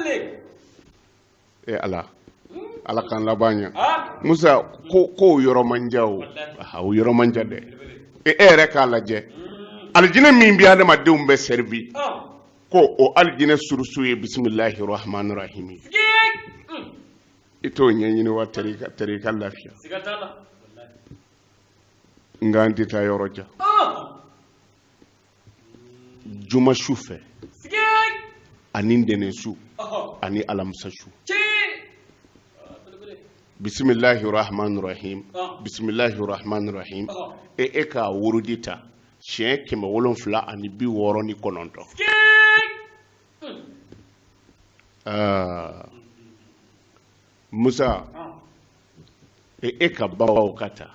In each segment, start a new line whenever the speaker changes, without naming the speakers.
le e ala ala k'an laban ɲa ha musa ko k'o yɔrɔ man jan o aha, o yɔrɔ man jan dɛ e e yɛrɛ k'a lajɛ alijinɛ min bɛ adamadenw bɛɛ sɛrivi ha ko o alijinɛ surusu ye bisimilahi rahmani rahim ye sigi Mm. i t'o ɲɛɲini wa tɛrɛ i ka- tɛrɛ i ka lafiya siga t'a la nka an tɛ taa yɔrɔ jan ha juma su fɛ ani ntɛnɛn su ani alamisa su bisimilahi rahman rahim bisimilahi rahman rahim e e ka wurudi ta siɲɛ kɛmɛ wolonfila ani bi wɔɔrɔ ni kɔnɔntɔn musa e, e ka babaw ka ta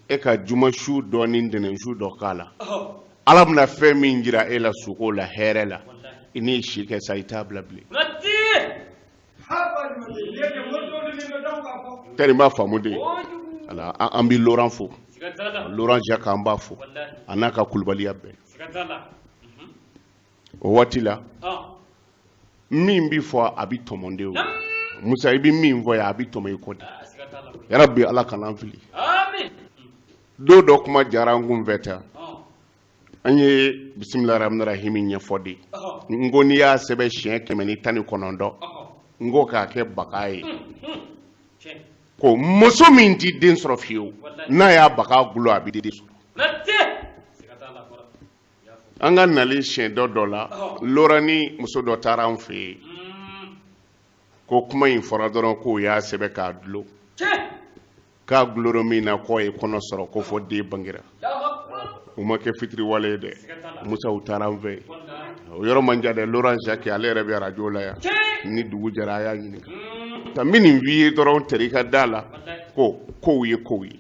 e ka juma su dɔ ni ntɛnɛn su dɔ ka la ala bɛna fɛn min jira e la sugo la hɛrɛ la i n'i si kɛ sa i t'a bila bilen tɛri n b'a faamu de ala an bɛ laurent fo laurent jacques an b'a fo a n'a ka kulubaliya bɛɛ o waati la min bɛ fɔ a bɛ tɔmɔ de o musa i bɛ min fɔ yan a bɛ tɔmɔ i kɔ de yarabi ala kan'an fili don dɔ kuma jara an kun fɛ tan an ye bisimila rahmani rahimi ɲɛfɔ de n ko n'i y'a sɛbɛn siɲɛ kɛmɛ ni tan ni kɔnɔntɔn n ko k'a kɛ baga ye ko muso min tɛ den sɔrɔ fiyewu n'a y'a baga gulo a bɛ den sɔrɔ an ka nali siɲɛ dɔ dɔ la laurent ni muso dɔ taara an fɛ yen ko kuma in fɔra dɔrɔn k'o y'a sɛbɛn k'a dulon k'a guloro min na k'o ye kɔnɔ sɔrɔ ko fo den bangera u ma kɛ fitiriwale ye dɛ musa u taara an fɛ yen o yɔrɔ man jan dɛ laurent jacques ale yɛrɛ bɛ arajo la yan ni dugu jɛra a y'a ɲininka ka min nin f'i ye dɔrɔn tɛr'i ka da la ko kow ye kow ye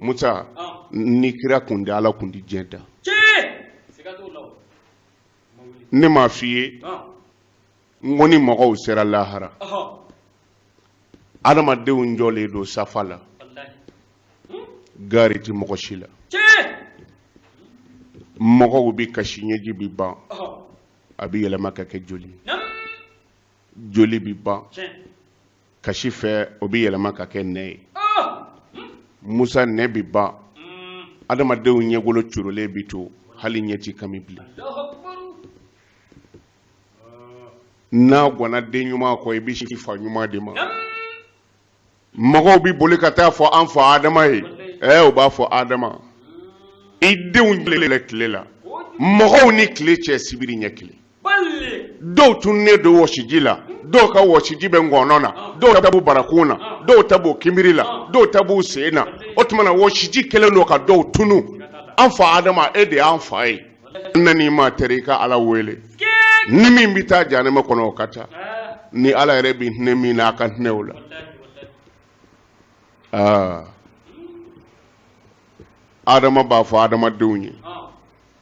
musa ni kira kun tɛ ala kun tɛ diɲɛ dan ne m'a f'i ye n ko ni mɔgɔw sera lahara adamadenw jɔlen don safa la gaari tɛ mɔgɔ si la mɔgɔw bɛ kasi ɲɛji bɛ ban a bɛ yɛlɛma ka kɛ joli joli bɛ ban kasi fɛ o bɛ yɛlɛma ka kɛ nɛn ye musa nɛn bɛ ban adamadenw ɲɛgolo corolen bɛ to hali ɲɛ tɛ kami bilen n'a gwanna den ɲuman kɔ i b'i sin fa ɲuman de ma mɔgɔw bɛ boli ka taa fɔ an fa adama ye ɛɛ u b'a fɔ adama i denw tile tile la mɔgɔw ni tile cɛ sibiri ɲɛ kelen dɔw tununnen don wɔsiji la dɔw ka wɔsiji bɛ ngɔnɔ na dɔw ta b'u barakun na dɔw ta b'u kinbiri la dɔw ta b'u sen na o tuma na wɔsiji kɛlen don ka dɔw tunu an fa adama e de y'an fa ye na n'i ma teri i ka ala wele ni min bɛ taa jahanama kɔnɔ o ka taa ni ala yɛrɛ bɛ hinɛ min na a ka hinɛ o la aa adama b'a fɔ adamadenw ye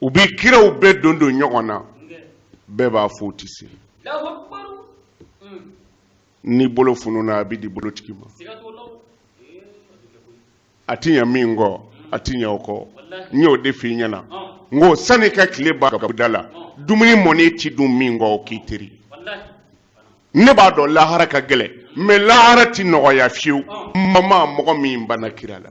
u bɛ kiraw bɛɛ don don ɲɔgɔn na bɛɛ b'a fɔ u tɛ se ni bolo fununa a bɛ di bolotigi ma a ti ɲɛ min kɔ a ti ɲɛ o kɔ n y'o de f'i ɲɛna n ko sani ka tile ba da la dumuni mɔni ti dun min kɔ o k'i teri ne b'a dɔn lahara ka gɛlɛn mɛ lahara ti nɔgɔya fiyewu maa ma mɔgɔ min banna kira la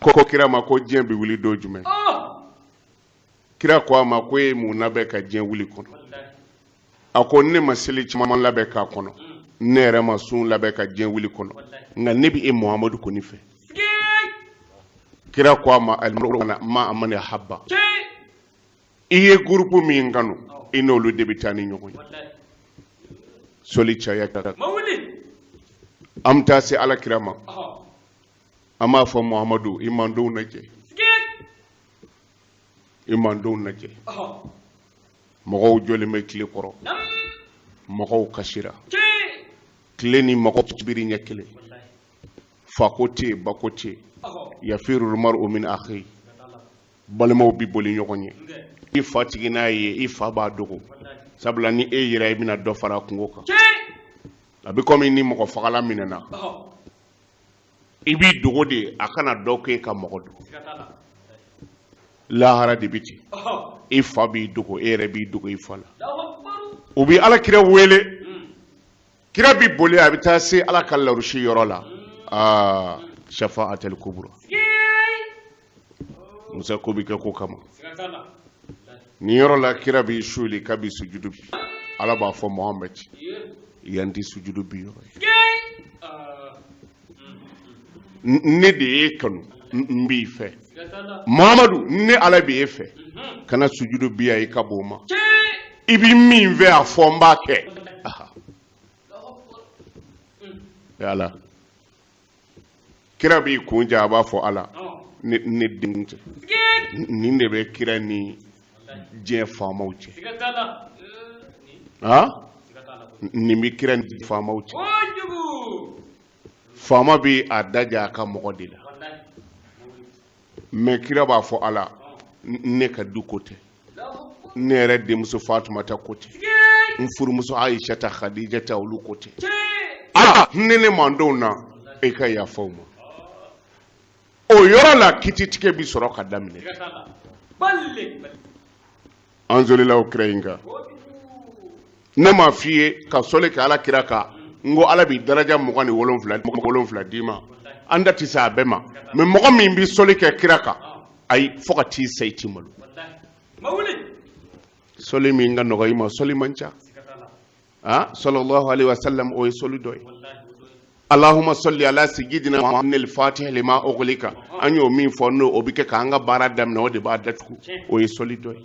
ko kira ma ko diɲɛ bɛ wuli don jumɛn kira ko a ma ko e mun labɛn ka diɲɛ wuli kɔnɔ a ko ne ma seli caman labɛn k'a kɔnɔ ne yɛrɛ ma sun labɛn ka diɲɛ wuli kɔnɔ nka ne bɛ e muhamadu kɔni fɛ kira ko a ma alimaru kana ma'a man ahaba i ye gurupu min kanu i n'olu de bɛ taa ni ɲɔgɔn ye soli caya kira an bɛ taa se ala kira ma an b'a fɔ muhamadu i mandenw lajɛ i mandenw lajɛ mɔgɔw jɔlen bɛ tile kɔrɔ mɔgɔw kasira tile ni mɔgɔ cɛ sibiri ɲɛ kelen fako tɛ yen bako tɛ yen yafirul maru min akhi balimaw bi boli ɲɔgɔn ɲɛ i fa tigi n'a ye i fa b'a dogo sabula ni e yɛrɛ i bɛna dɔ fara a kunko kan a bɛ komi ni mɔgɔfagala minɛna i b'i dogo de a kana dɔn ko i ka mɔgɔ don lahara de bɛ ten i fa b'i dogo e yɛrɛ b'i dogo i fa la u bɛ ala kira wele kira bɛ boli a bɛ taa se ala ka larusi yɔrɔ la aa safa'atul kubura mɔgɔ sago bɛ kɛ ko kama nin yɔrɔ la kira b'i suuli k'a bɛ sujudu bin ala b'a fɔ mohamɛd yan tɛ sujudu bin yɔrɔ ye ne de y'e kanu n b'i fɛ mohamadu ne ala bɛ e fɛ kana sujudu bin yan i ka bon o ma i bɛ min fɛ a fɔ n b'a kɛ yala kira b'i kun ja a b'a fɔ ala ne ne denw tɛ nin de bɛ kira ni diɲɛ faamaw cɛ ah nin bɛ kira ni faamaw cɛ faama bɛ a daja a ka mɔgɔ de la mɛ kira b'a fɔ ala ne ka du ko tɛ ne yɛrɛ denmuso fatumata ko tɛ n furumuso ayisata hadijata olu ko tɛ ala ne ne mantonw na e ka yafa u ma o yɔrɔ la kititigɛ bi sɔrɔ ka daminɛ an sɔlila kira in kan ne m'a f'i ye ka sɔli kɛ ala kira kan n ko ala bi daraja mugan ni wolonfila wolonfila d'i ma an da tɛ se a bɛɛ ma mɛ mɔgɔ min bɛ sɔli kɛ kira kan ayi fo ka t'i sa i ti malo sɔli min ka nɔgɔ i ma sɔli man ca a sallallahu alayhi wa sallam o ye sɔli dɔ ye allahumma salli ala sayyidina muhammed fatih lima ughliqa an y'o min fɔ n'o o bɛ kɛ k'an ka baara daminɛ o de b'a datugu o ye sɔli dɔ ye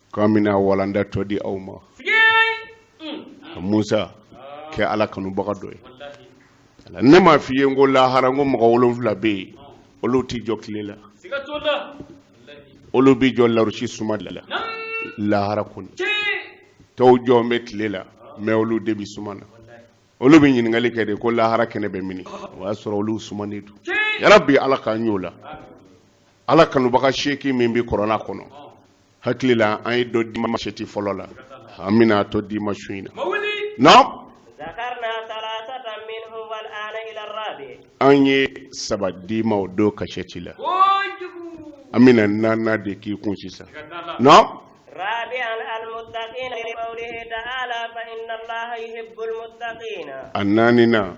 K'an bɛna walanda tɔ di aw ma. Ka Musa kɛ Ala kanubaga dɔ ye. Ne m'a f'i ye n ko lahara n ko mɔgɔ wolonwula bɛ yen olu tɛ jɔ tile la. Olu bɛ jɔ larasi suma de la lahara kɔni. Tɔw jɔlen bɛ tile la mais olu de bɛ suma na. Olu bɛ ɲininkali kɛ de ko lahara kɛnɛ bɛ mini? O y'a sɔrɔ olu sumanen don. Yarabi Ala k'an y'o la. Ala kanubaga seegin min bɛ kurana kɔnɔ. hakili la an ye dɔ d'i ma kasɛti fɔlɔ la an bɛna a tɔ d'i ma su in na non
an ye
saba d'i ma o don kasɛti la an bɛna naaninan de k'i kun sisan
non a naaninan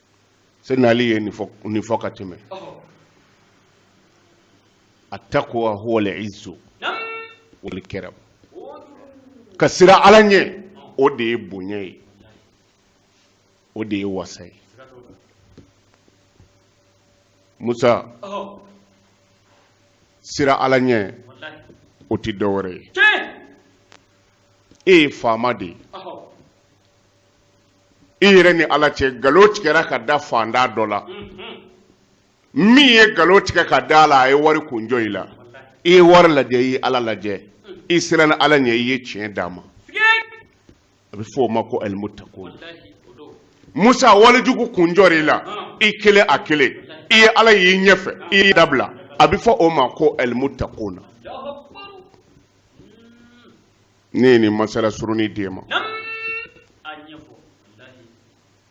seyina ali ye nin fɔ ka tɛmɛ attaqwa huwal izzu wal karamu ka siran ala ɲɛ o de ye bonya ye o de ye wasa ye musa siran ala ɲɛ o tɛ dɔ wɛrɛ ye e ye faama de ye i yɛrɛ ni ala cɛ nkalon tigɛra ka da faantan dɔ la min ye nkalon tigɛ ka d'a la a ye wari kunjɔ i la i ye wari lajɛ i ye ala lajɛ i siranna ala ɲɛ i ye tiɲɛ d'a ma a bɛ fɔ o ma ko alimutakun musa walijugu kunjɔ i la i kelen a kelen i ye ala y'i ɲɛfɛ i y'a dabila a bɛ fɔ o ma ko alimutakuna ne ye nin masala surunin d'e ma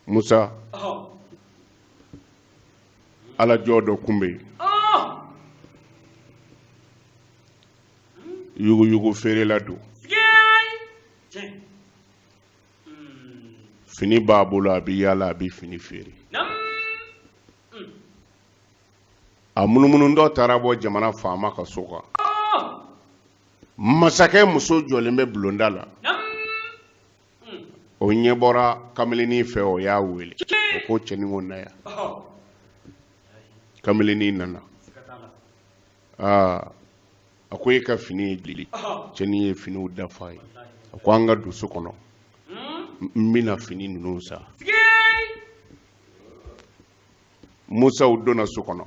musa ala jɔn dɔ tun bɛ yen yuguyugu feerela don fini b'a bolo a bɛ yaala a bɛ fini feere a munumunutɔ taara bɔ jamana faama ka so kan masakɛ muso jɔlen bɛ bulonda la o ɲɛ bɔra kamalennin fɛ o y'a wele o ko cɛnin ko na yan kamalennin nana aa a ko e ka fini ye jeli cɛnin ye finiw da f'a ye a ko an ka don so kɔnɔ n bɛna fini ninnu san musa u donna so kɔnɔ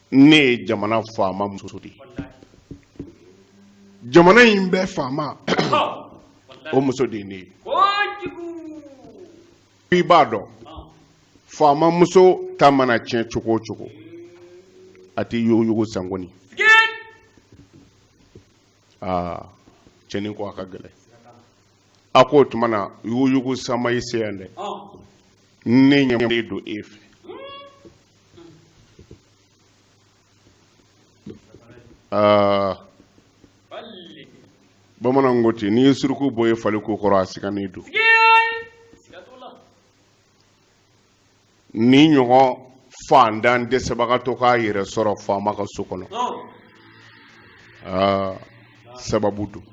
ne ye jamana faama muso de ye jamana in bɛɛ faama o muso de ye ne ye i b'a dɔn faama muso ta mana tiɲɛ cogo o cogo a tɛ yuguyugu san kɔni aa cɛnin ko a ka gɛlɛn a ko o tuma na yuguyugu san ma i se yan dɛ ne ɲɛ don e fɛ aa bamananw ko ten n'i ye suruku bo ye fali ko kɔrɔ a sigannen don nin ɲɔgɔn faantan dɛsɛbagatɔ k'a yɛrɛ sɔrɔ faama ka so kɔnɔ aa sababu don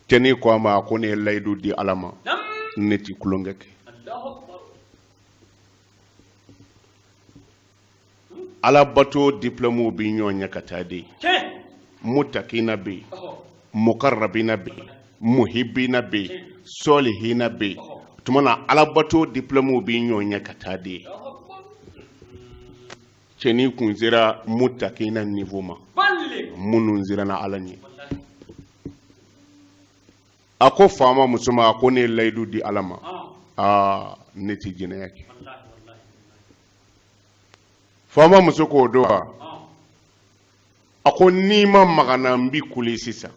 cɛnin ko a ma a ko ne ye layidu di ala ma ne ti tulonkɛ kɛ alabato diplɔmuw bɛ ɲɔgɔn ɲɛ ka taa de mutakina bɛ yen mukarabina bɛ yen muhibina bɛ yen sɔlihina bɛ yen tuma na alabato diplɔmuw bɛ ɲɔgɔn ɲɛ ka taa de cɛnin tun sera mutakina nivo ma minnu siranna ala ɲɛ a ko faama muso ma a ko ne ye layidu di ala ma aa ne tɛ jɛnɛya kɛ faama muso k'o don wa a ko n'i ma maga n na n bɛ kule sisan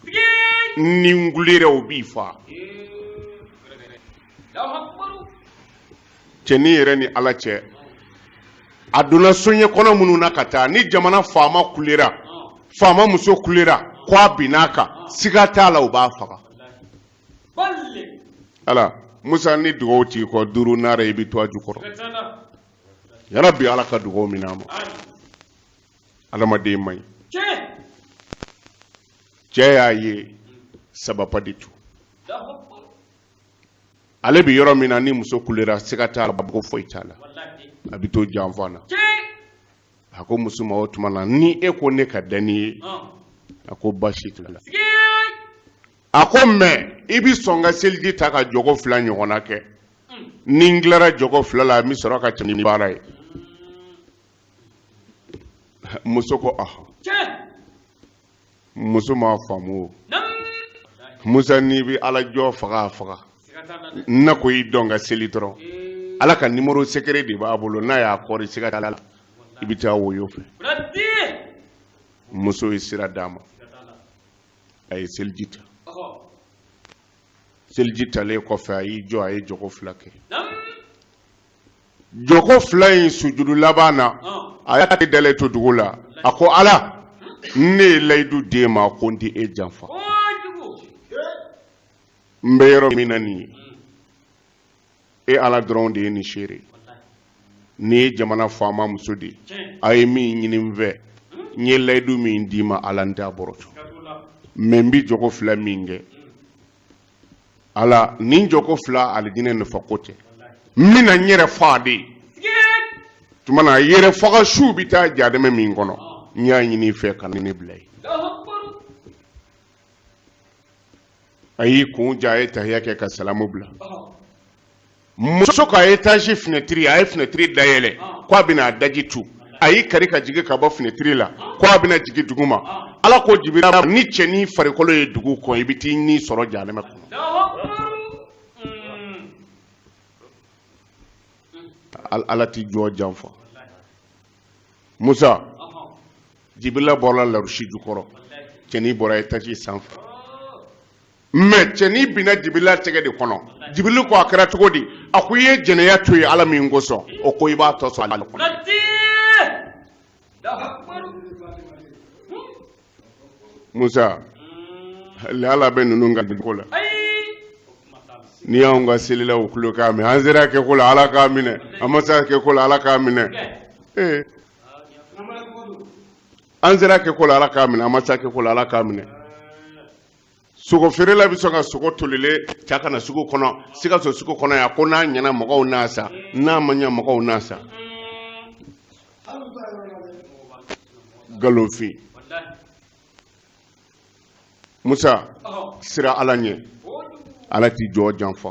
ni n kulera u b'i faa cɛnin yɛrɛ ni ala cɛ a donna soɲɛ kɔnɔ minnu na ka taa ni jamana faama kulera faama muso kulera ko a binna a kan siga t'a la u b'a faga ala musa ni dugaw t'i kɔ duuru nara i bɛ to a jukɔrɔ yarabi ala ka dugaw minɛ an ma adamaden man ɲi cɛ y'a ye sababa de tu ale bɛ yɔrɔ min na ni muso kulera siga t'a la u b'a bugɔ foyi t'a la a bɛ to janfa na a ko muso ma o tuma na ni e ko ne ka da n'i ye a ko basi t'a la a ko mɛ i bɛ sɔn n ka seliji ta ka jɔkɔ fila ɲɔgɔnna kɛ ni n tilara jɔkɔ fila la n bɛ sɔrɔ ka tɛmɛ ni baara ye muso ko awɔ muso m'a faamu o musa n'i bɛ ala jɔn faga a faga n'a ko i jɔ n ka seli dɔrɔn ala ka nimoro sekere de b'a bolo n'a y'a kɔri siga t'a la i bɛ taa woyo fɛ muso ye sira d'a ma a ye seliji ta seliji talen kɔfɛ a y'i jɔ a ye jɔkɔ fila kɛ jɔkɔ fila in sujudu laban na a y'a tɛgɛ dalen to dugu la a ko ala ne ye layidu d'e ma ko n tɛ e janfa n bɛ yɔrɔ min na nin ye e ala dɔrɔn de ye nin seere nin ye jamana faama muso de ye a ye min ɲini n fɛ n ye layidu min d'i ma ala n t'a bɔrɔtɔ mɛ n bɛ jɔkɔ fila min kɛ ala nin jɔkɔ fila alijinɛ nafa ko tɛ n bɛna n yɛrɛ faga de tuma na yɛrɛ faga su bɛ taa jahanama min kɔnɔ n y'a ɲini i fɛ kana n bila yen a y'i kun ja a ye tahiya kɛ ka salamu bila muso ka etaji finɛtiri a ye finɛtiri dayɛlɛ ko a bɛna a daji tu a y'i kari ka jigin ka bɔ finɛtiri la ko a bɛna jigin dugu ma ala ko jibirila ni cɛnin farikolo ye dugu kɔn i bɛ t'i ni sɔrɔ jahanama kɔnɔ ala tɛ jɔn janfa musa jibirila bɔra larusi jukɔrɔ cɛnin bɔra etaji sanfɛ mɛ cɛnin binna jibirila tɛgɛ de kɔnɔ jibirili ko a kɛra cogo di a ko i ye jɛnɛya to ye ala min kosɔn o ko i b'a tɔ sɔrɔ ale kɔnɔ musa hali ala bɛ ninnu ka ko la ni y'anw ka selila u tulo k'a minɛ an sera kɛ ko la ala k'a minɛ an ma se kɛ ko la ala k'a minɛ ee an sera kɛ ko la ala k'a minɛ an ma se kɛ ko la ala k'a minɛ sogo feerela bɛ sɔn ka sogo tolilen cɛ ka na sugu kɔnɔ sikaso sugu kɔnɔ yan ko n'a ɲɛna mɔgɔw n'a san n'a ma ɲɛ mɔgɔw n'a san nkalonfin musa siran ala ɲɛ ala tɛ jɔn janfa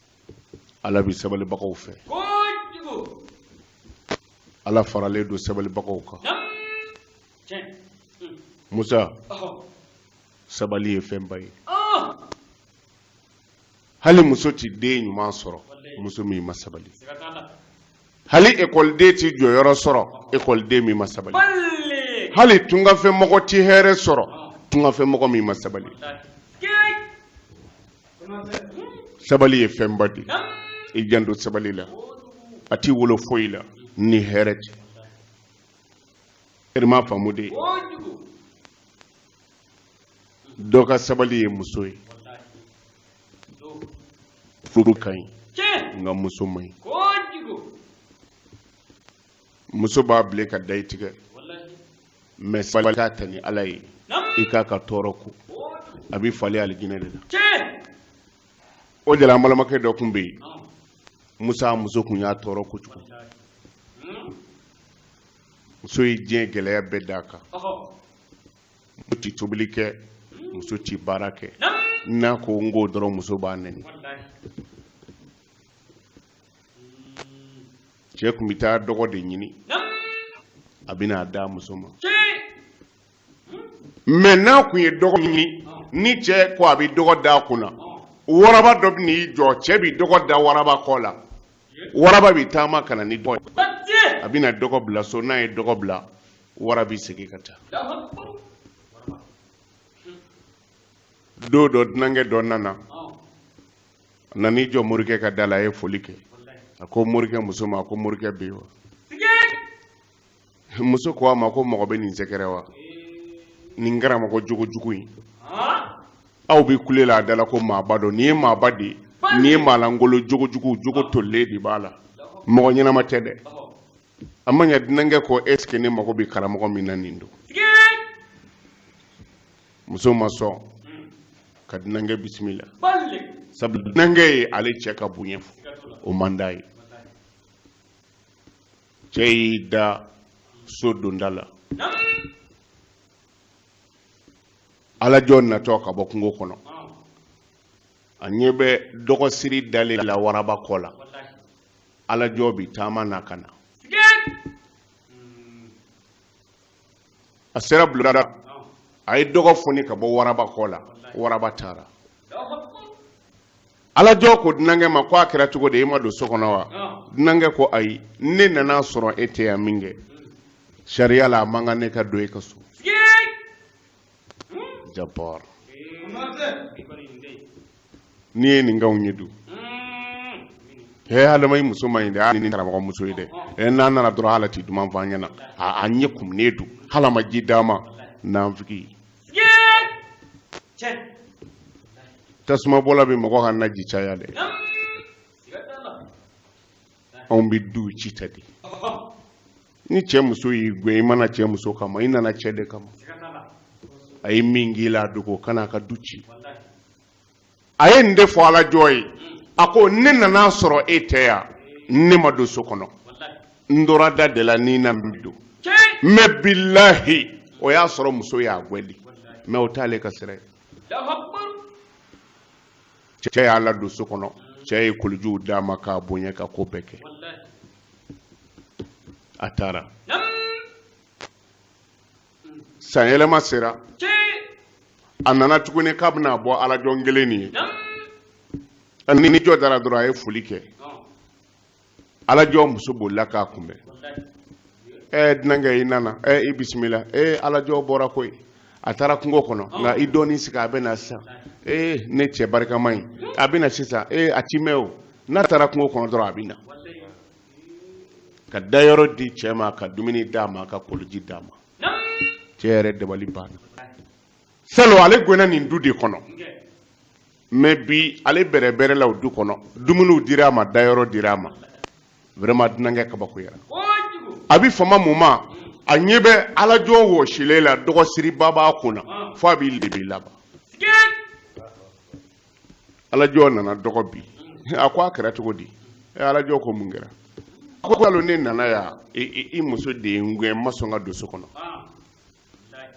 ala bɛ sabalibagaw fɛ ala faralen don sabalibagaw kan hmm. musa sabali ye fɛnba ye ah! hali muso tɛ den ɲuman sɔrɔ muso min ma sabali hali ekɔliden tɛ jɔyɔrɔ sɔrɔ ekɔliden min ma sabali hali tungafɛ mɔgɔ tɛ hɛrɛ sɔrɔ tungafɛ mɔgɔ min ma sabali sabali ye fɛnba de i janto sabali la a t'i wolo foyi la ni hɛrɛ tɛ eri ma faamu de dɔ ka sabali ye muso ye furu ka ɲi nka muso man ɲi muso b'a bilen ka da i tigɛ mais sabali k'a ta ni ala ye i k'a ka tɔɔrɔ kun a bɛ falen alijinɛ de la o de la an balimakɛ dɔ tun bɛ yen musa muso tun y'a tɔɔrɔ kojugu muso ye diɲɛ gɛlɛya bɛɛ d'a kan muso tɛ tobili kɛ muso tɛ baara kɛ n'a ko n k'o dɔrɔn muso b'a nɛni cɛ tun bɛ taa dɔgɔ de ɲini a bɛ na a d'a muso ma mais n'a tun ye dɔgɔ ɲini ni cɛ ko a bɛ dɔgɔ d'a kun na waraba dɔ bɛ n'i jɔ cɛ bɛ dɔgɔ da waraba kɔ la waraba bɛ taama ka na ni dɔgɔ ye a bɛna dɔgɔ bila so n'a ye dɔgɔ bila wara bi segin ka taa don dɔ dunankɛ dɔ nana a nana i jɔ morikɛ ka da la a ye foli kɛ a ko morikɛ muso ma a ko morikɛ bɛ yen wa muso ko a ma ko mɔgɔ bɛ nin sɛgɛrɛ wa nin karamɔgɔ jogo jugu in aw bɛ kule la a da la ko maaba don nin ye maaba de ye nin ye maa lankolon jogo jugu jogo tolilen de b'a la mɔgɔ ɲɛnama tɛ dɛ a ma ɲa dunankɛ ko est ce que ne mago bɛ karamɔgɔ min na nin don muso ma sɔn ka dunankɛ bisimila sabu dunankɛ ye ale cɛ ka bonya fɔ o man d'a ye cɛ y'i da so donda la alajɔ natɔ ka bɔ kungo kɔnɔ a ɲɛ bɛ dɔgɔsiri dalen la waraba kɔ la alajɔ bi taama na ka na a sera bulonda a ye dɔgɔ foni ka bɔ waraba kɔ la waraba taara alajɔ ko dunankɛ ma ko a kɛra cogo di e ma don so kɔnɔ wa dunankɛ ko ayi ne nana sɔrɔ e tɛ yan min kɛ sariya la a man kan ne ka don e ka so jabbar n'i ye nin kanw ye dun he hadama i muso man ɲi dɛ hali ni karamɔgɔ muso ye dɛ ɛ n'an nana dɔrɔn hali a ti duman fɔ an ɲɛna a a ɲɛ kumunen don hali a ma ji d'an ma nanfigi tasuma bɔla bɛ mɔgɔ ka naji caya dɛ anw bɛ du ci tan de ni cɛ muso y'i gɛn i ma na cɛ muso kama i nana cɛ de kama a ye min k'i la a dogo kana a ka du ci a ye nin de fɔ alajɔ ye a ko ne nan'a sɔrɔ e tɛ yan ne ma don so kɔnɔ n tora da de la ni na bi don mais bilahi o y'a sɔrɔ muso y'a gwɛn de mais o t'ale ka sira ye cɛ y'a ladon so kɔnɔ cɛ ye kolijiw d'a ma k'a bonya ka ko bɛɛ kɛ a taara san yɛlɛma sera a nana tuguni k'a bɛna bɔ alajɔn kelen nin ye n'i jɔ da ra dɔrɔn a ye foli kɛ alajɔ muso bolila k'a kunbɛn ɛ dunankɛ i nana ɛ i bisimila ee alajɔ bɔra koyi a taara kungo kɔnɔ nka i dɔɔni sigi a bɛ na sisan ee ne cɛ barikama in a bɛ na sisan ee a ti mɛɛn o n'a taara kungo kɔnɔ dɔrɔn a bɛ na ka dayɔrɔ di cɛ ma ka dumuni d'a ma ka koliji d'a ma cɛ yɛrɛ dabali banna salon ale gɛnna nin du de kɔnɔ mais bi ale bɛrɛbɛrɛla o du kɔnɔ dumuniw dira a ma dayɔrɔ dira a ma vraiment dunankɛ kabakoyara a bi fama mun ma a ɲɛ bɛ alajɔ wɔsilen la dɔgɔsiriba b'a kun na fo a b'i lebi laban alajɔ nana dɔgɔ bin a ko a kɛra cogo di ɛ alajɔ ko mun kɛra a ko salon ne nana yan i muso de ye n gɛn n ma sɔn ka don so kɔnɔ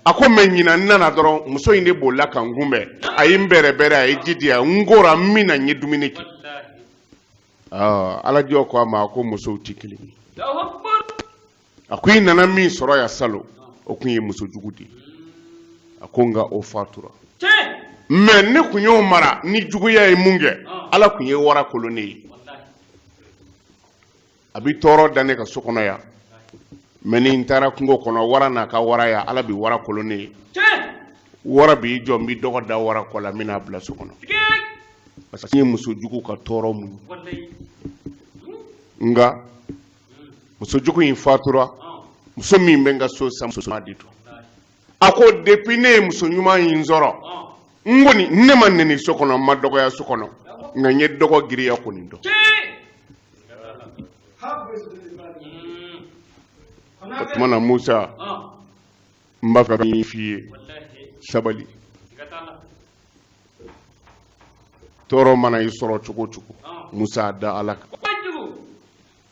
a ko mais ɲinan n nana dɔrɔn muso in de bolila ka n kunbɛn a ye n bɛrɛbɛrɛ a ye ji di yan n kora n minna n ye dumuni kɛ alajɔ ko a ma a ko musow tɛ kelen ye a ko i nana min sɔrɔ yan salon o tun ye muso jugu de ye a ko nka o fatura mais ne tun y'o mara ni juguya ye minkɛ ala tun ye wara kolo ne ye a bɛ tɔɔrɔ da ne kan so kɔnɔ yan mais ni n taara kungo kɔnɔ wara n'a ka waraya ala bɛ wara kolo ne ye wara b'i jɔ n bɛ dɔgɔ da wara kɔ la n bɛ n'a bila so kɔnɔ parce que n ye muso jugu ka tɔɔrɔ muɲu nka muso jugu in fatura muso min bɛ n ka so sisan muso ɲuman de don a ko depuis ne ye muso ɲuman in sɔrɔ n kɔni ne ma neni so kɔnɔ n ma dɔgɔya so kɔnɔ nka n ye dɔgɔ girinya kɔni dɔn o tuma na musa n b'a fɛ ka min f'i ye sabali tɔɔrɔ mana i sɔrɔ cogo o cogo musa da ala kan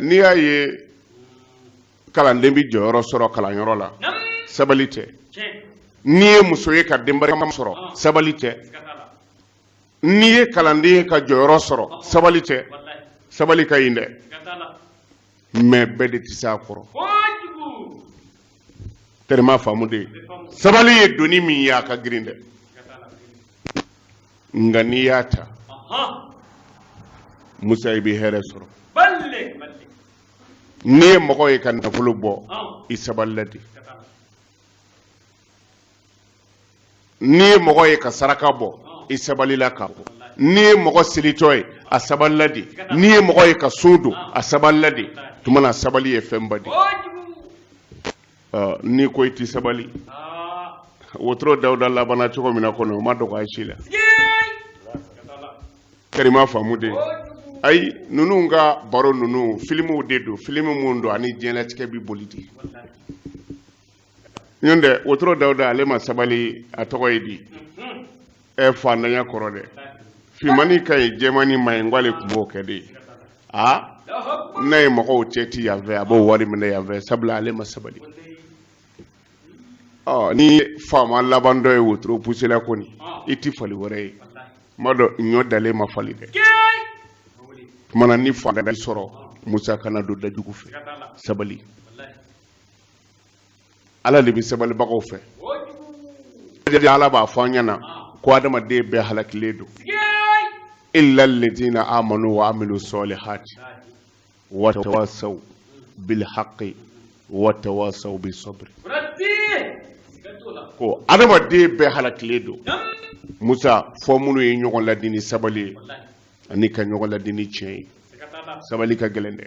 n'i y'a ye kalanden bɛ jɔyɔrɔ sɔrɔ kalanyɔrɔ la sabali tɛ n'i ye muso ye ka den barikama sɔrɔ ah. sabali tɛ n'i ye kalanden ye ka jɔyɔrɔ sɔrɔ ah. sabali tɛ sabali ka ɲi dɛ mɛ bɛɛ de tɛ se a kɔrɔ tɛrɛma faamu de ye sabali ye doni min ye a ka girin dɛ nka n'i y'a ta musa i bɛ hɛrɛ sɔrɔ n'i ye mɔgɔ ye ka nafolo bɔ i sabalila de n'i ye mɔgɔ ye ka saraka bɔ i sabalila k'a bɔ n'i ye mɔgɔ selitɔ ye a sabalila de n'i ye mɔgɔ ye ka sun don a sabalila de tuma na sabali ye fɛnba de ye n'i ko i tɛ sabali wotoro dawuda labana cogo min na kɔnɔ o ma dogo aw si la karima faamu de ayi ninnu ka baro ninnu filimuw de don filimu minnu don ani diɲɛlatigɛ bɛ boli de nɔntɛ wotoro dawuda ale ma sabali a tɔgɔ ye di ɛ faantanya kɔrɔ dɛ fimani ka ɲi jɛmani man ɲi k'ale tun b'o kɛ de ye a n'a ye mɔgɔw cɛ ti yan fɛ a b'o wari minɛ yan fɛ sabula ale ma sabali ɔ ni faama laban dɔ ye wotoro pusela kɔni i ti fali wɛrɛ ye kuma dɔ ɲɔ dalen ma fali dɛ tuma na n'i fanga sɔrɔ musa kana don da jugu fɛ sabali ala de bɛ sabalibagaw fɛ ala b'a fɔ an ɲɛna ko adamaden bɛɛ halakilen don illa alladhina amanu wa amilu salihati wa tawasaw bil haqqi wa tawasaw bis sabr ko adamaden bɛɛ halakilen don musa fo minnu ye ɲɔgɔn ladi ni sabali ye ani ka ɲɔgɔn ladi ni tiɲɛ ye sabali ka gɛlɛn dɛ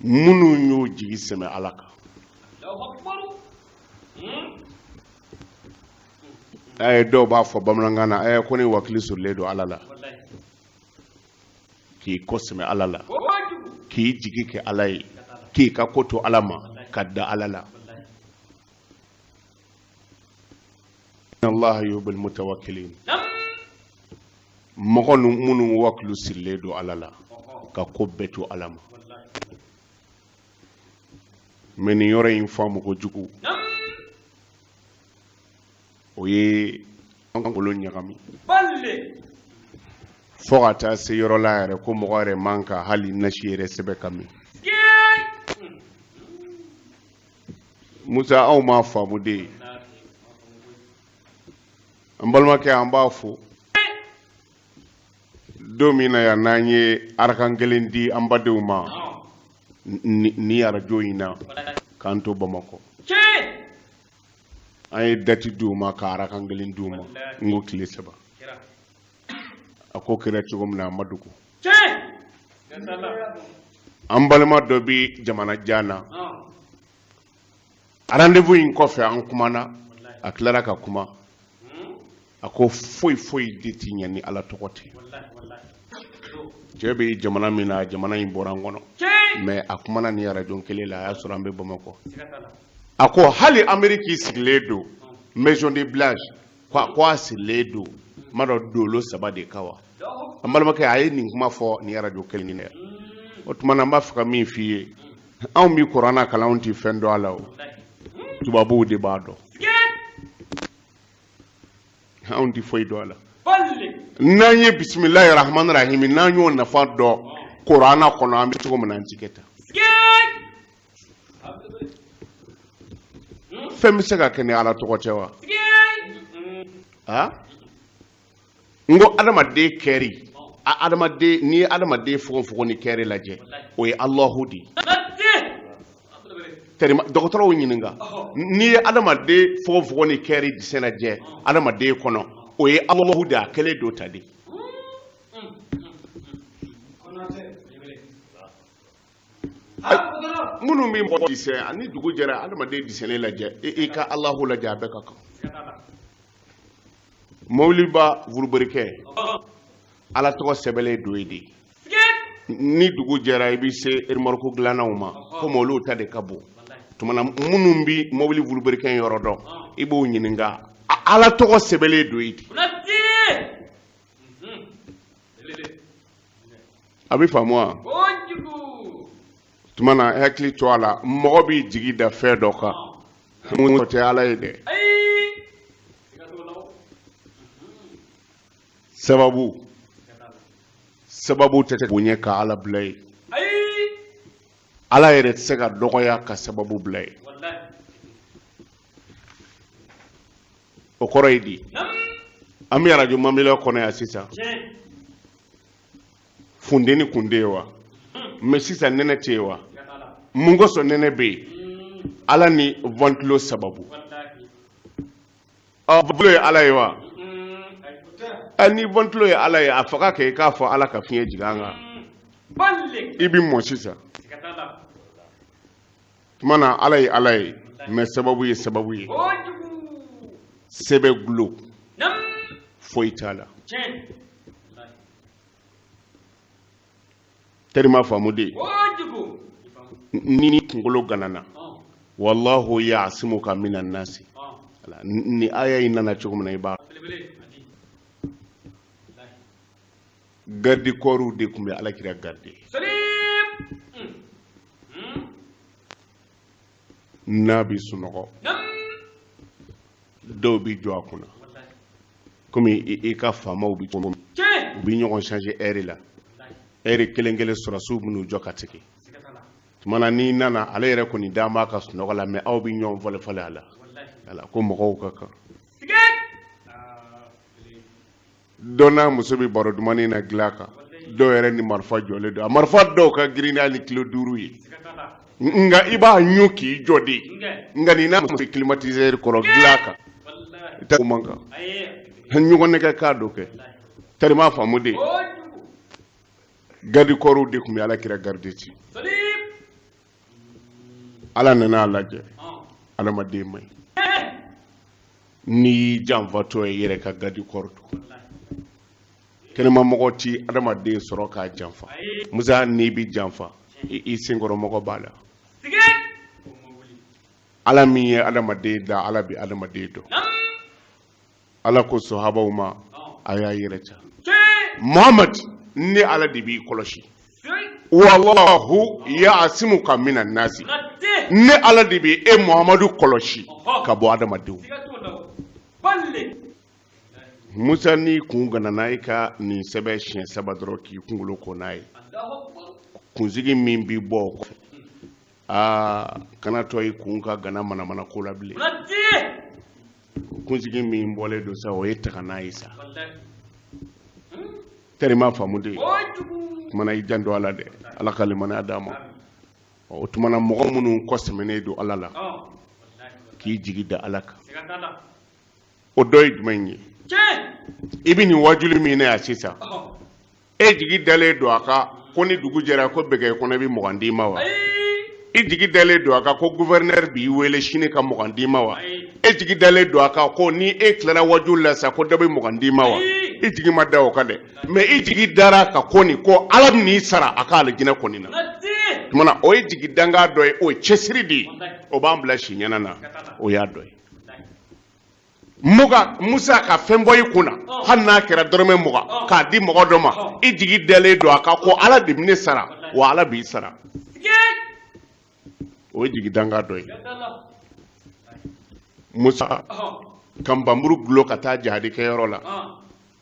minnu y'u jigi sɛmɛ ala kan ɛɛ dɔw b'a fɔ bamanankan na ɛɛ ko ne wakili sirilen don ala la k'i kɔ sɛmɛ ala la k'i jigi kɛ ala ye k'i ka ko to ala ma ka da ala la allah yuhibbul mutawakkilin mɔgɔ minnu wakilu sirilen don ala la ka ko bɛɛ to ala ma mɛ nin yɔrɔ in faamuko jugu o ye an kunkolo ɲagami fo ka taa se yɔrɔ la yɛrɛ ko mɔgɔ yɛrɛ man kan ka hali nasi yɛrɛ sɛbɛn ka min musa aw m'a faamu dɛ an balimakɛ an b'a fɔ don min na yan n'an ye arakan kelen di an badenw ma nin arajo in na k'an to bamakɔ an ye dati di u ma ka arakan kelen di u ma n ko tile saba a ko kɛra cogo min na a ma dogo an balima dɔ bɛ jamana jan na rendez-vous in kɔfɛ an kumana a tilara ka kuma a ko foyi foyi de ti ɲa ni ala tɔgɔ tɛ cɛ bɛ jamana min na jamana in bɔra n kɔnɔ mɛ a kumana nin arajo kelen la a y'a sɔrɔ an bɛ bamakɔ a ko hali ameriki sigilen don maison de blanche ko a sigilen don n m'a dɔn dolo saba de kan wa an balimakɛ a ye nin kuma fɔ nin arajo kelen in na o tuma na n b'a fɛ ka min f'i ye anw bi kuranna kalan anw ti fɛn dɔn a la o tubabuw de b'a dɔn anw ti foyi dɔn a la n'an ye bisimilahi rahmani rahimi n'an y'o nafa dɔn kuranna kɔnɔ an bɛ cogo min na an ti kɛ tan fɛn bɛ se ka kɛ ni ala tɔgɔ tɛ wa a n ko adamaden kɛri a adamaden n'i ye adamaden fogofogo ni kɛri lajɛ o ye alahu de ye tɛrima dɔgɔtɔrɔw ɲininka n'i ye adamaden fogofogo ni kɛri desɛn lajɛ adamaden kɔnɔ o ye alahu de ye a kɛlen don tan de minnu bɛ mɔgɔ desɛn a ni dugu jɛra adamaden desɛnnen lajɛ i ka alahu lajɛ a bɛɛ ka kan mɔbiliba vuruberikɛ ala tɔgɔ sɛbɛnlen don yen de ni dugu jɛra i bɛ se erimɔriko dilannaw ma komi olu ta de ka bon tuma na minnu bɛ mɔbili vuruberikɛ yɔrɔ dɔn i b'o ɲininka ala tɔgɔ sɛbɛnlen don yen de a bɛ faamu wa tuma na hakili to a la mɔgɔ b'i jigi da fɛn dɔ kan mun tɛ ala ye dɛ sababu sababu tɛ tɛ bonya ka ala bila yen ala yɛrɛ tɛ se ka dɔgɔya ka sababu bila yen o kɔrɔ ye di an bɛ arajo mamelon kɔnɔ yan sisan funteni kun tɛ yen wa hmm. mɛ sisan nɛnɛ tɛ yen wa mun kosɔn nɛnɛ bɛ yen hmm. ala ni ventilo sababu ɔ ventilo ye ala ye wa hmm. ni ventilo ye ala ye a faga kɛ i k'a fɔ ala ka fiɲɛ jigin an kan i bɛ mɔ sisan tuma na ala ye ala ye mais sababu ye sababu ye sɛbɛ gulo foyi t'a la terima faamu dɛ n'i kunkolo ganana wallahu ya'simuka minan nasi nin aya in nana cogo min na i b'a garde corpsw de tun bɛ alakira garde n'a bɛ sunɔgɔ dɔw bɛ jɔ a kunna komi i ka faamaw bɛ cogo min u bɛ ɲɔgɔn changer heure la heure kelen kelen sɔrɔsiw bɛn'u jɔ ka tigi tuma na n'i nana ale yɛrɛ kɔni dan b'a ka sunɔgɔ la mais aw bɛ ɲɔgɔn falen falen a la ko mɔgɔw ka kan dɔ n'a muso bɛ baro dumannin na dilan kan dɔw yɛrɛ ni marifa jɔlen don a marifa dɔw ka girin n'a ni kilo duuru ye nka i b'a ɲun k'i jɔ de nka nin n'a muso climatiseur kɔrɔ dilan kan i ta man kan ɲɔgɔn nɛgɛ k'a dɔ kɛ terima faamu dɛ garde corps de tun bɛ ala kira garde ci ala nana a lajɛ adamaden man ɲi n'i janfatɔ ye yɛrɛ ka garde corps don kɛnɛmamɔgɔ ti adamaden sɔrɔ k'a janfa musa n'i bɛ janfa i senkɔrɔmɔgɔ b'a la ala min ye adamaden da ala bɛ adamaden dɔn ala ko sahabaw ma a y'a yɛrɛ ca muhamad ne ala de b'i kɔlɔsi wallahu ya'simuka minan nasi ne ala de bɛ e muhamadu kɔlɔsi ka bɔ adamadenw musa n'i kun ganana i ka nin sɛbɛn siɲɛ saba dɔrɔn k'i kunkolo ko n'a ye kunsigi min bi bɔ o kɔfɛ aa kana to i kun ka gana manamana ko la bilen kunsigi min bɔlen don sa o ye taga n'a ye sa terima faamu dɛ tumana i janto a la dɛ ala ka limaniya d'a ma o tumana mɔgɔ minnu kɔ sɛmɛnen don ala la k'i jigi da ala kan o dɔ ye jumɛn ye i bɛ nin wajuli min na yan sisan e jigi dalen don a kan ko ni dugu jɛra ko bɛgɛ kɔnɔ i bɛ mugan d'i ma wa i jigi dalen don a kan ko gouverneur b'i wele sini ka mugan d'i ma wa e jigi dalen don a kan ko ni e tilara wajuli la sa ko dɔ bɛ mugan d'i ma wa i jigi ma da o kan dɛ mais i jigi dara a kan kɔni ko ala bɛn'i sara a ka alijinɛ kɔni na tumana o ye jigi danga dɔ ye o ye cɛsiri de ye o b'an bila si ɲɛna na o y'a dɔ ye muga musa ka fɛn bɔ i kun na hali n'a kɛra dɔrɔmɛ mugan k'a di mɔgɔ dɔ ma i jigi dalen don a kan ko ala de bɛ ne sara wa ala b'i sara o ye jigi danga dɔ ye musa ka npanmuru gulo ka taa jahadi kɛyɔrɔ la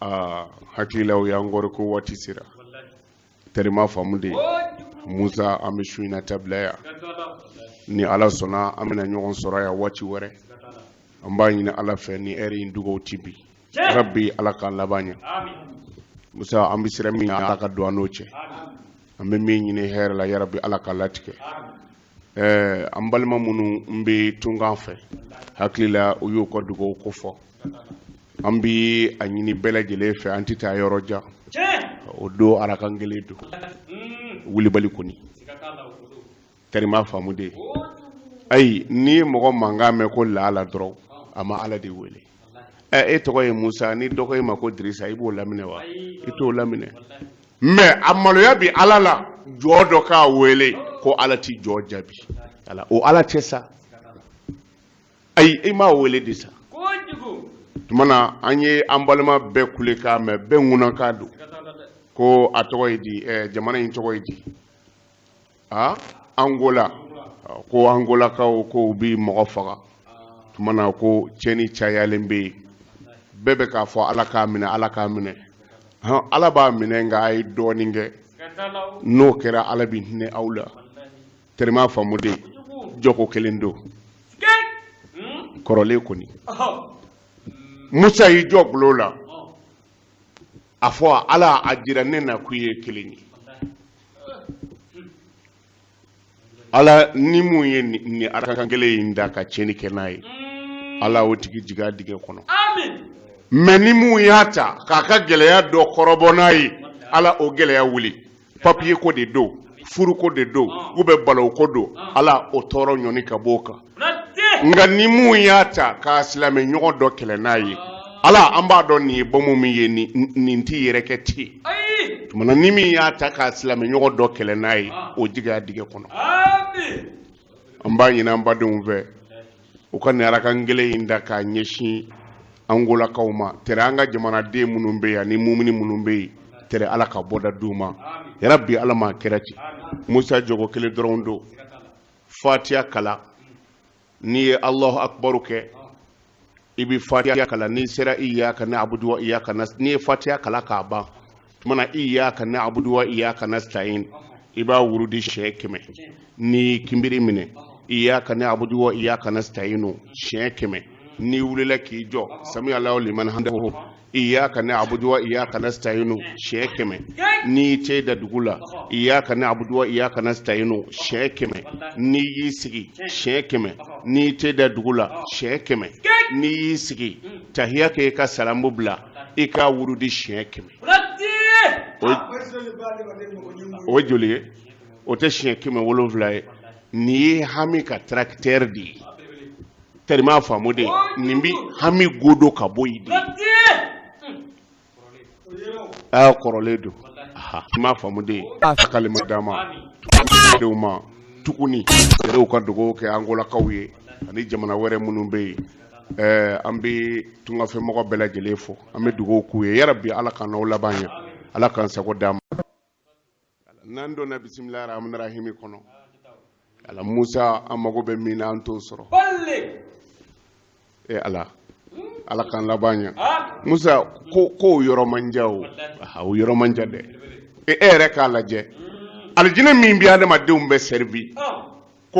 aa hakili la u y'an kɔrɔ ko waati sera terima faamu de musa an bɛ su in na ta bila yan ni ala sɔnna an bɛna ɲɔgɔn sɔrɔ yan waati wɛrɛ an b'a ɲini ala fɛ ni hɛri in dugaw ti bi rabi ala k'an laban ɲɛ musa an bɛ siran min ala ka don an n'o cɛ an bɛ min ɲini hɛrɛ la yarabi ala k'a latigɛ ɛɛ an balima minnun bɛ tunkan fɛ hakili la u y'u ka dugaw ko fɔ an bɛ a ɲini bɛɛ lajɛlen fɛ an tɛ taa yɔrɔ jan o don arakan kelen don wulibali kɔni terima faamu de ayi n'i ye mɔgɔ mankan mɛn ko ala ala dɔrɔn a ma ala de wele e tɔgɔ ye musa ni dɔ ko i ma ko dirisa i b'o laminɛ wa i t'o laminɛ mɛ a maloya bɛ ala la jɔn dɔ k'a wele ko ala tɛ jɔn jaabi ala o ala tɛ sa ayi i m'a wele de sa tumana an ye an balima bɛɛ kulekan mɛn bɛɛ ŋunankan don ko a tɔgɔ ye di jamana in tɔgɔ ye di aa angola ko angolakaw ko u bi mɔgɔ faga tumana ko cɛni cayalen bɛ yen bɛɛ bɛ k'a fɔ ala k'a minɛ ala k'a minɛ hɔn ala b'a minɛ nka a ye dɔɔnin kɛ n'o kɛra ala bɛ hinɛ aw la terima faamu de jɔko kelen don kɔrɔlen kɔni musa y'i jɔ bulon la a fɔ ala a jira ne na k'u ye kelen ye ala ni mun ye nin arakan kelen in da ka tiɲɛni kɛ n'a ye ala o tigi jiga dingɛ kɔnɔ mɛ ni mun y'a ta k'a ka gɛlɛya dɔ kɔrɔbɔ n'a ye ala o gɛlɛya wuli papiye ko de don furuko de don u bɛ balo ko don ala o tɔɔrɔ ɲɔni ka b'o kan nka ni min y'a ta k'a silamɛ ɲɔgɔn dɔ kɛlɛ n'a ye ala an b'a dɔn nin ye bɔmu min ye nin t'i yɛrɛ kɛ ti ye tumana ni min y'a ta k'a silamɛ ɲɔgɔn dɔ kɛlɛ n'a ye o jiga dingɛ kɔnɔ an b'a ɲini an badenw fɛ u ka nin arakan kelen in da k'a ɲɛsin angolakaw ma tɛrɛ an ka jamanaden minnu bɛ yen ani mumuni minnu bɛ yen tɛrɛ ala ka bɔda d'u ma yarabi ala m'a kɛra ten musa jɔko kelen dɔrɔn don fatiya kalan n'i ye alahu akubaru kɛ i bɛ fatiya kalan n'i sera iyaka nabudu wa iyaka n'i ye fatiya kalan k'a ban tumana iyaka na abudu wa iyaka na stain i b'a wurudi siɲɛ kɛmɛ n'i kinbiri minɛ iyaka na abudu wa iyaka na stainu siɲɛ kɛmɛ n'i wulila k'i jɔ sami alahu liman hamdahu iyaka na abudu wa iyaka na stainu siɲɛ kɛmɛ n'i ce da dugu la iyaka na abudu wa iyaka na stainu siɲɛ kɛmɛ n'i y'i sigi siɲɛ kɛmɛ n'i ce da dugu la siɲɛ kɛmɛ n'i y'i sigi tahiya kɛ ka salamu bila i k'a wurudi siɲɛ kɛmɛ o ye joli ye o tɛ siɲɛ kɛmɛ wolonfila ye nin ye hami ka tarakitɛri de ye tɛri m'a faamu de ye nin bi hami godo ka bɔ yen de a kɔrɔlen don i m'a faamu de ye a kalima dama denw ma tuguni yɛrɛw ka dugawu kɛ angolakaw ye ani jamana wɛrɛ minnu bɛ yen ɛɛ an bɛ tungafɛmɔgɔ bɛɛ lajɛlen fo an bɛ dugawu k'u ye yarabi ala k'an n'aw laban ɲɛ ala k'an sago d'an ma n'an donna bisimila rahmani rahimi kɔnɔ ala musa an mago bɛ min na an t'o sɔrɔ e ala ala k'an laban ɲɛ musa ko k'o yɔrɔ man jan o aha o yɔrɔ man jan dɛ e e yɛrɛ k'a lajɛ alijinɛ min bɛ adamadenw bɛɛ sɛrivi